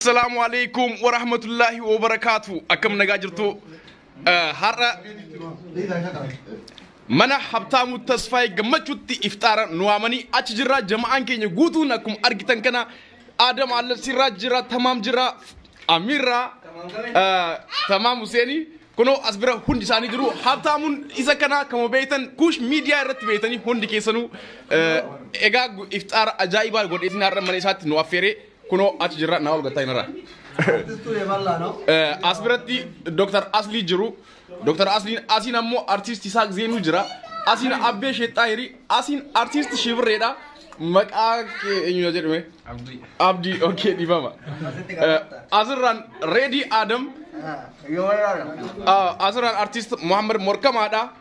Assalaamu alaikum wa rahmatullahi wa barakaatu. Akkam nagaa jirtu? Eh, Har'a mana Habtaamuu Tasfaayee gammachuutti ifxaara nu waamanii achi jirra. Jama'aan keenya guutuun akkuma argitan kana Aadam Allabsiirraa jira, Tamaam jira, Amiirraa, eh, Tamaam Huseenii. Kunoo as bira hundi isaanii jiru. Habtaamuun isa kana kama beektan kuush miidiyaa irratti beektanii hundi keessanuu eh, egaa gu- ifxaara ajaa'ibaa godheetiin har'a mana isaatti nu affeeree Kunoo achi jirra naa ol gattaa hin irraa. Artistuu Yebal'aa no? Eh, as biratti Dr. Aslii jiru. Dr. Asliin asiin ammoo artiist Isaaq Zeenuu jira. Asiin Abbee Sheexxaahirii, asiin artiist Shibirreedha. Maqaa kee eenyudha jedhame? Abdii. Abdii, okee dhibama. Asitti Eh, qabatta. Asirraan Reedii Adam, Ah, Yoo wayyaadha. ah, asirraan artiist Muhammad Morkamaadha.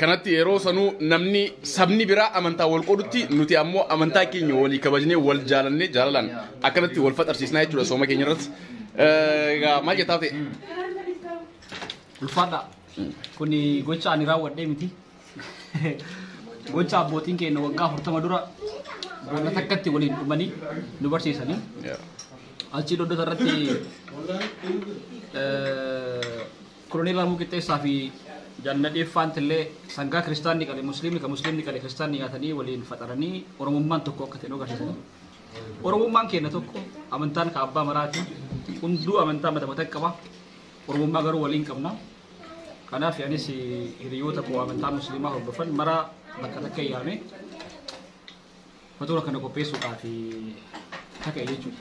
Kanatti yeroo sanuu namni sabni biraa amantaa wal qoodutti nuti ammoo amantaa keenya walii kabajnee wal jaalannee jaalalaan akkanatti wal faxarsiisnaa jechuudha sooma keenya irratti. Egaa maal jettaa ta'e? Ulfaadha. Kun gocha ani raawwadhee miti. Gocha abbootiin keenya waggaa afurtama dura boolla takkatti waliin dhumanii nu barsiisanii. Achii dodota irratti Koloneel Raamuu Qixxeessaa fi Jaal Nadhee Faantillee sangaa kiristaanni qale musliimni ka musliimni qale kiristaanni nyaatanii waliin faxaranii Oromummaan tokko akka ta'e nu agarsiisanii. Oromummaan keenya tokko amantaan ka abbaa maraati hunduu amantaa mata mata qaba Oromummaa garuu waliin qabna. Kanaaf anis hiriyoota koo amantaa musliimaa hordofan mara bakka takka yaame Matoora kana qopheessuudhaaf kaka'e jechuudha.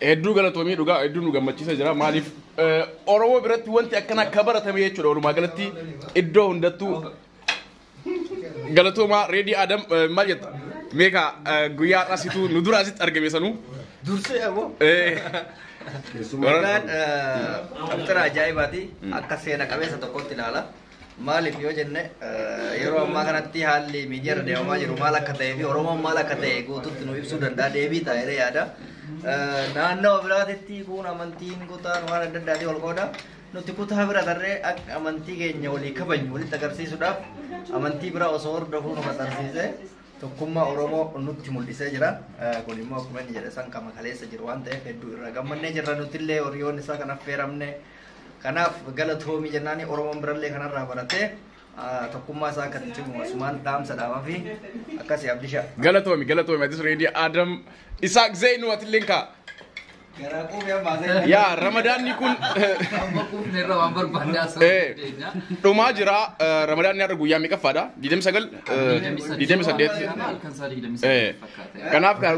Hedduu galatoomii dhugaa hedduu nu gammachiisa jira. Maaliif Oromoo biratti wanti akkana akka baratame jechuudha. Walumaa galatti iddoo hundattuu galatoomaa reedii Adam maal jetta? Meeqa guyyaa har'aa situ nu dura asitti argame sanuu? Dursee aboo. Keessumaa. Dhugaan qabxira ajaa'ibaati. Akka seena qabeessa tokkotti ilaala. Maaliif yoo jenne yeroo ammaa kanatti haalli miidiyaa irra deemamaa jiru maal akka ta'ee fi Oromoon maal akka ta'e guutuutti nu ibsuu danda'a deebii ta'a jedhee yaada. Naannoo biraatitti kun amantiin kutaan waan adda addaatiin wal qooda. Nuti kutaa bira tarree akka amantii keenya walii kabajnu walitti agarsiisuudhaaf amantii bira osoo hordofuu nu maxxansiisee tokkummaa Oromoo nutti mul'isee jira. Kun immoo akkuma inni jedhe san qama kaleessa jiru waan ta'eef hedduu irraa gammannee jirra nutillee horiyoon isaa kan affeeramne. Kanaaf galatoomi jennaani Oromoon birallee kanarraa baratee tokkummaa isaa akka itti cimu asumaan dhaamsa dhaamaa fi akkasii abdisha. Galatoomi galatoomi atis reedii Adam Isaaq Zeynu atilleen kaa. Garaa quufee ammaa seenaa. Yaa ramadaanni kun Amma quufne irra waan barbaanne haasa'uu Eh. dandeenya. dhumaa jira eh, ramadaanni har'a guyyaa meeqaffaadha? 29 eh, 28 Halkan isaa 28 Eh. fakkaata. Kanaaf kaa-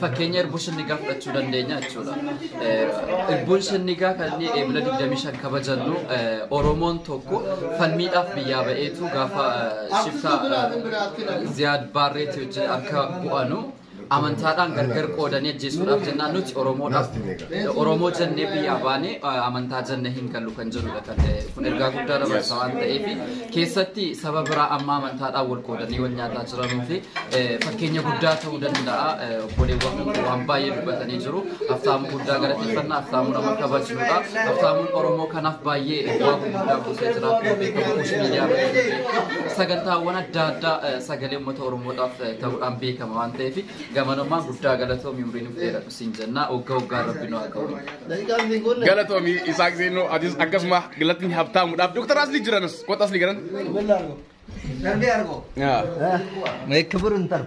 Fakkeenya irbuun sinnigaa fudhachuu dandeenya jechuudha. Irbuun sinnigaa kan inni eebila 25 kabajannu Oromoon tokko falmiidhaaf biyyaa ba'eetu gaafa shiftaa Ziyaad Baarreetii wajjin akka bu'anu amantaadhaan gargar qoodanii ajjeesuudhaaf jennaan nuti Oromoodhaaf Oromoo jennee biyyaa baanee amantaa jennee hin gallu kan jedhudha kan kun ergaa guddaa dabarsa waan ta'eef keessatti saba biraa amma amantaadhaan wal qoodanii wal nyaataa jiranuu fi fakkeenya guddaa ta'uu danda'a. Obboleewwan kun waan baay'ee dubbatanii jiru. Haftaamuu guddaa galateeffannaa haftaamuu nama kabajnudha. Haftaamuun Oromoo kanaaf baay'ee bu'aa gurguddaa buusee jira. Beekamu kuushii miidiyaa irratti sagantaawwan adda addaa sagalee uummata Oromoodhaaf ta'uudhaan beekama waan ta'eef gamanummaan guddaa galatoomi umriin of dheeradha. sin jannaa ogga oggaan rabbi nu haa qabu. Galatoomi Isaaq Zeenoo atis akkasuma galatni habtaamudhaaf Dooktar Asli jiranas kota Asli garan. ክብር እንጠር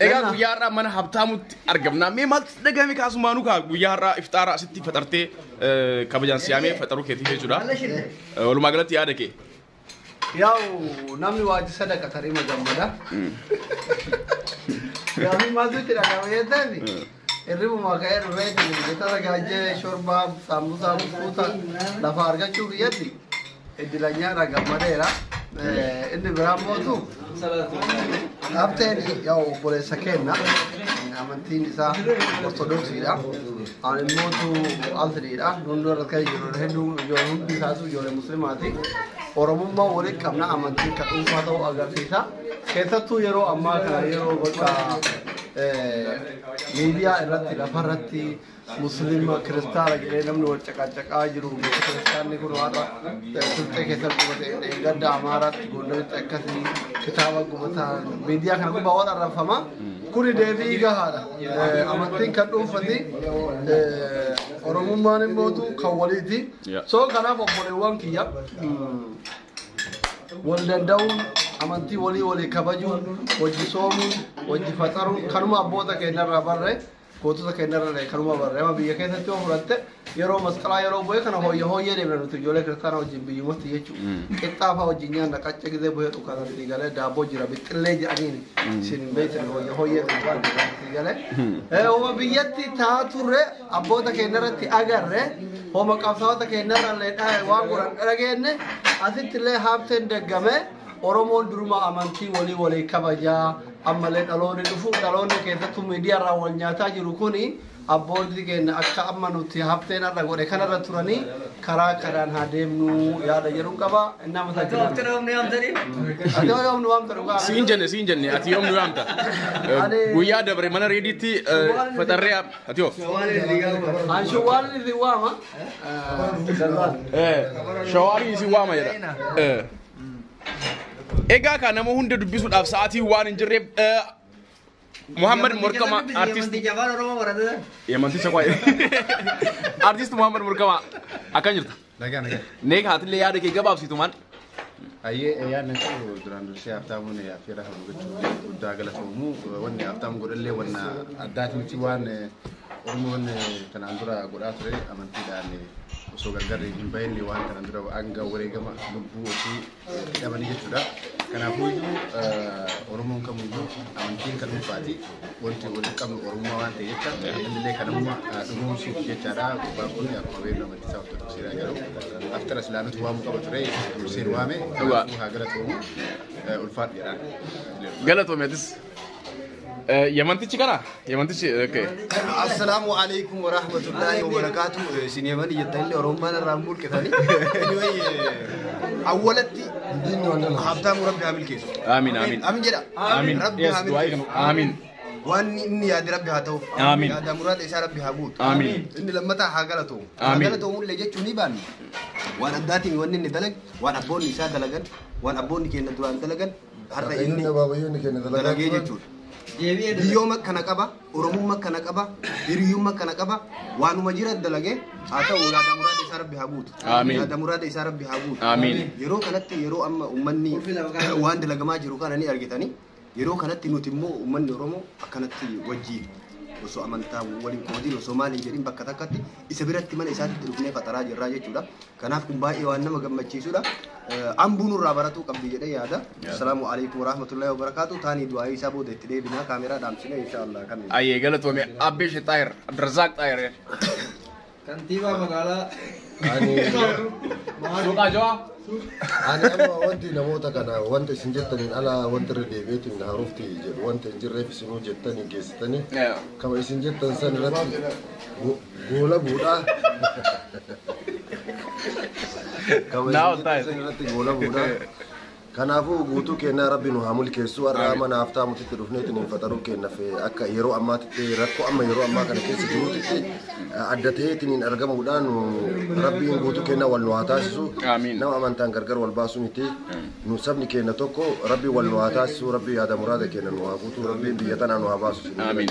Egaa guyyaa har'aa mana habtaamutti argamna. Mee maaltu si dhagahame kaasumaanuu kaa guyyaa har'aa ifxaara asitti faxartee eh, kabajaan siyaamee faxaruu keetii jechuudha. Eh, Walumaa galatti yaada kee. Yaa'u namni waajji sadaqa tarima gammada. Gaafii maaltu itti dhaga'ama jettan hirribuma ka'ee dhufee jettara gaajjee shorbaa saambusaa buskuuta lafa argachuu kiyyatti iddilanyaadha gammadeera. Inni biraa mootu Habteen yaa obboleessa keenna amantiin isaa ortodoksiidha. Ani immootu altiriidha. Hunduu irratti kan jiru hedduu ijoollee hundi isaatu ijoollee musliimaati. Oromummaa waliin qabna amantiin kan dhuunfaa ta'uu agarsiisa. Keessattuu yeroo ammaa kana yeroo bakka miidiyaa irratti lafarratti Musliima kiristaana jedhee namni wal caqacaqaa jiru beeku kiristaanni kun har'a Silxee keessatti gubate eeggadda Amaaraatti Gondaritti akkasii kitaaba gubataa miidiyaa kana gubbaa waan arrabfama kuni deebii gahaadha amantiin kan dhuunfati oromummaan immootu kan waliiti soo kanaaf obboleewwan kiyya wal danda'uun amantii walii walii kabajuun wajji soomuun wajji faxaruun kanuma abboota keenyarraa barre Gootota keenya irra illee kanuma barre amma biyya keessatti yoo fudhatte yeroo masqalaa yeroo bu'ee kana hooyya hooyyee deemna nuti ijoollee kiristaanaa wajjin biyyumatti jechuudha. Qixxaafaa wajjin nyaanna qacce gizee bu'ee dhukaana sii galee daabboo jira bixxillee jedhaniin siin hin beektan hooyya hooyyee deemna sii galee. Eh, Homa biyyatti taa turre abboota keenya irratti agarre homa qabsaa'ota keenya irra illee dha- waan godhan dhageenye asitti illee haabteen deggame. Oromoon durumaa amantii walii walii kabajaa ammallee dhaloonni dhufu dhaloonni keessattuu miidiyaarraa wal nyaataa jiru kuni abbootii keenya akka amma nuti hafteen har'a godhe kanarra turanii karaa kanaan haa deemnu yaada jedhu qaba. Nama Ati tajaajila. yoo nu yaamtanii? Ati yoo yoomnu waamta dhugaa. Siin jenne siin jenne ati yoom nu yaamta. Ani- Guyyaa dabre mana reediitti faxarree ati yoo. Somaaliin liigaa uummata. An shawwaalli isin waama. Shawaalii isin waama jedha. Egaa kaa nama hunda dubbisuudhaaf sa'aatiin waan hin jirreef eh, Muhammad Morkamaa artist Jabaan Oromoo baratee. Yamanticha qo'e. Artist Muhammad Morkamaa akkan jirta. Nagaa nagaa. Neek haatillee yaada kee gabaabsitu maal? Ayyee yaadni koo duraan dursee Haabtaamuun affeerraa kan gochuuf guddaa galatoomu wanni Haabtaam godhallee wanna addaati miti waan Oromoon kanaan dura godhaa ture amantiidhaan osoo gargar hin bahin waan kanaan dura hanga wareegama lubbuu ofii hidhamanii jechuudha. Kanaafuu iyyuu Oromoon kamiyyuu amantiin kan dhuunfaati. Wanti walitti qabnu Oromummaa waan ta'e jecha innillee kan amma dhugoomsuuf jechaadha. Gurbaan kun akkuma beeknu amantii isaa ortodoksiidha garuu aftara islaamatu waamuu qaba ture durseen waame kanaafuu haa galatoomu ulfaadhu jedhaan. Galatoomeetis. Eh, Yamantichi kana? Yamantichi, okay. Assalaamu alaikum wa rahmatullahi wa barakaatu. Isin yamani jettan illee Oromummaan irraa hin mulqitani. Anyway, eh, awwalatti Habtaamuu Rabbi haa milkeessu. Amiin, amiin. Amin jedha. Amiin. Rabbi Yes, haa du'aa milkeessu. eegnu. Amiin. Waan inni yaade Rabbi haa ta'uuf. Amiin. Yaada muraada isaa Rabbi haa guutu. Amiin. Inni lammataa haa galatoomu. Haa Amiin. galatoomu illee jechuun ni baanne. Waan addaatiin wanni inni dalage, waan abboonni isaa dalagan, waan abboonni keenya duraan dalagan, har'a Waaqayyoon inni abaabayyoonni keenya dalagaa dalagee turan. jechuudha. Deebi'ee dalaga. Biyyooma kana qaba, Oromumma kana qaba, hiriyumma kana qaba, waanuma jira dalagee haa ta'u yaada muraada isaa rabbi haa guutu. Amiin. Yaada muraada isaa rabbi haa guutu. Amiin. Yeroo kanatti yeroo amma uummanni waan dalagamaa jiru kana ni argitanii yeroo kanatti nuti immoo uummanni Oromoo akkanatti wajjin osoo amantaa waliin qoodin osoo maal hin jedhin bakka takkatti Isa biratti mana isaatitti dhufnee faxaraa jirraa jechuudha. Kanaaf kun baay'ee waan nama gammachiisudha. Ambuu nurraa baratuu qabdi jedhee yaada. Assalaamu alaikum warahmatullahi wabarakatuh. Taanii du'aa isaa booda itti deebinaa kaameraa dhaamsine inshaallah kan. Ayyee galatoomee Abbish Xaayir Abdirazaaq Xaayir. Kantiibaa magaalaa Ani Suuqaa Jawaa. ani amma wanti namoota kana wanta isin jettaniin ala wanti irra deebi'eetiin na haruufti jedhu wanta hin jirreef isinuu jettanii geessitanii kama isin jettan san irratti Goolabuudha. Kabajamtoota Now time. irratti goolabuudha. Kanaafuu guutuu kennaa rabbi nu haa mulkeessu har'a mana haftaa mutitti dhufneetiin hin faxaruu kennaaf akka yeroo ammaatitti rakkoo amma yeroo ammaa kana keessa jirutti adda ta'eetiin hin argamuudhaan rabbiin guutuu kennaa wal nu haa taasisu Amiin. nama amantaan gargar wal baasu miti nu sabni keenya tokko rabbi wal nu haa taasisu rabbi yaada muraada keenya nu haa guutu rabbiin biyya tanaa nu haa baasu Amiin.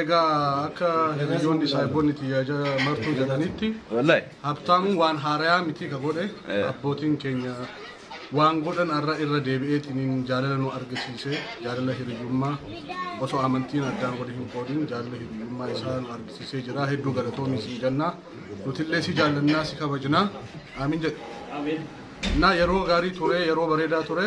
Egaa akka hiriyoonni saahiboonni tiyyaa martuu jedhanitti habtaamuun waan haarayaa mitii ka godhe abbootiin keenya waan godhan arra irra deebi'eetiniin jaalala nu argisiise jaalala hiriyyummaa osoo amantiin addaan wali hin qoodin jaalala hiriyyummaa isaa nu argisiisee jira hedduu galatoomi siin jannaa nutillee si jaallannaa si kabajnaa aamin jedhe. Naa yeroo gaarii ture yeroo bareedaa ture.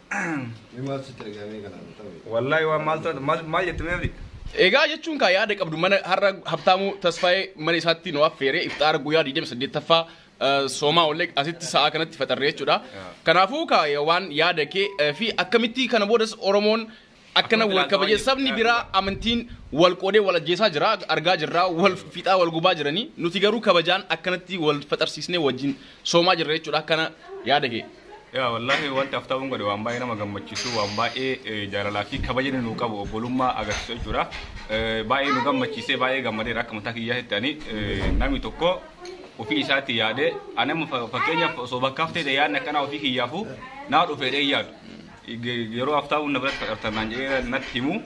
Wallahi waan maal taate maal maal jette mee abdi? Egaa jechuun kaa yaada qabdu mana har'a Habtaamuu Tasfaayee mana isaatti nu affeeree ifxaara guyyaa 28ffaa eh, soomaa ollee asitti sa'aa kanatti faxarree jechuudha. Kanaafuu kaa eh, waan yaada kee eh, fi akkamitti kana boodas Oromoon Akkana wal kabaje sabni biraa amantiin wal qoodee wal ajjeesaa jira argaa jirra wal fixaa wal gubaa jiranii nuti garuu kabajaan akkanatti wal faxarsiisnee wajjin soomaa jirra jechuudha akkana yaada kee. Yaa wallaahi wanti aftaawwan godhe waan baay'ee nama gammachiisu waan baay'ee jaalalaa fi kabajni nu qabu obbolummaa agarsiisu jechuudha. Baay'ee nu gammachiisee baay'ee gammadeera akka mataa kiyyaa itti ani namni tokko ofii isaatti yaadee ani amma fakkeenyaaf osoo bakkaaf ta'e yaadni akkanaa ofii kiyyaafuu naa dhufeedhee yaadu. Yeroo Haftaamuun na biratti faqartan naan jedhee natti himu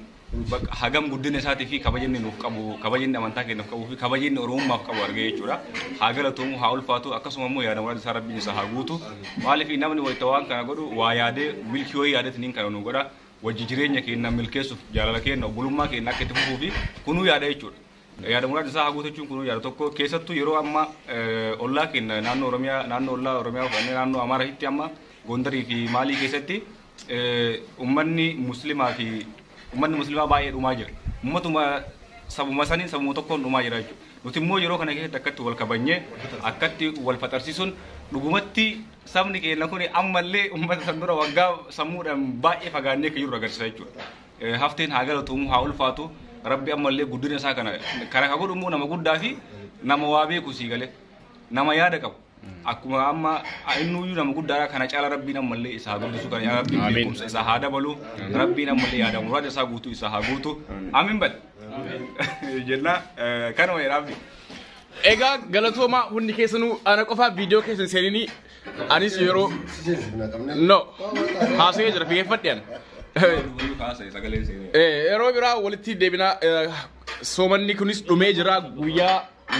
hagam guddina isaatii fi kabaja inni nuuf qabu, kabaja inni amantaa keenyaaf qabuu fi kabaja inni Oromummaaf qabu argee jechuudha. Haa galatoomu, haa ulfaatu, akkasuma immoo yaada muraasa isaa rabbiin isaa haa guutu. Maaliif namni wayita waan kana godhu waa yaadee milkii wayii yaadatiniin kana nu godha. Wajji jireenya keenya milkeessuuf jaalala keenya obbolummaa keenya akka itti fufuu fi kunuu yaada jechuudha. Yaada muraasa isaa haa guutachuun kun yaada tokko keessattuu yeroo amma ollaa keenya naannoo Oromiyaa naannoo ollaa Oromiyaa fudhannee naannoo Amaaraatti amma Gondarii fi Maalii keessatti uummanni musliimaa fi uummanni musliimaa baay'ee dhumaa jira. Uummatuma sabuma saniin sabuma tokkoon dhumaa jira jechuudha. Nuti immoo yeroo kana keessatti akkatti wal kabanyee akkatti wal faxarsiisuun dhugumatti sabni keenya kun ammallee uummata san dura waggaa sammuudhaan baay'ee fagaannee akka jirru agarsiisa jechuudha. Hafteen haa galatoomuu haa ulfaatu rabbi ammallee guddina isaa kana kana ka godhu immoo nama guddaa fi nama waa beeku sii galee nama yaada qabu akkuma amma innuyyuu nama guddaadha kana caala rabbiin ammallee isaa haa guddisu kana caala rabbiin Amiin. beekumsa isaa haa dabalu rabbiin ammallee yaada muraada isaa guutuu isaa haa guutu amiin bal jennaa eh, kanuma jedhaamni. Egaa galatoomaa hundi keessanuu ana qofaa viidiyoo keessan seeninii Anis yeroo no haasa'ee jira figeeffadhe ani. Eh, Yeroo biraa walitti deebinaa eh, soomanni kunis dhumee jira guyyaa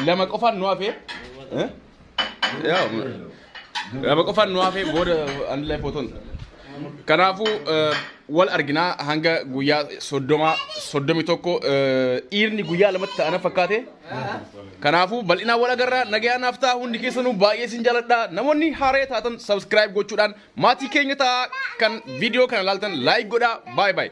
lama qofaan nu hafe. Eh? Yaa, Lama qofaan nu hafe booda anillee footoon. Kanaafuu eh, wal arginaa hanga guyyaa soddoma soddomi tokko eh, dhiirni guyyaa lamatti ta'ana fakkaate. Kanaafuu bal'inaan wal agarraa nagayaan naaf ta'a hundi keessanuu baay'ee sin jaaladha. Namoonni haaree taatan subscribe gochuudhaan maatii keenya ta'a kan viidiyoo kana laaltan like godhaa. Bye bye.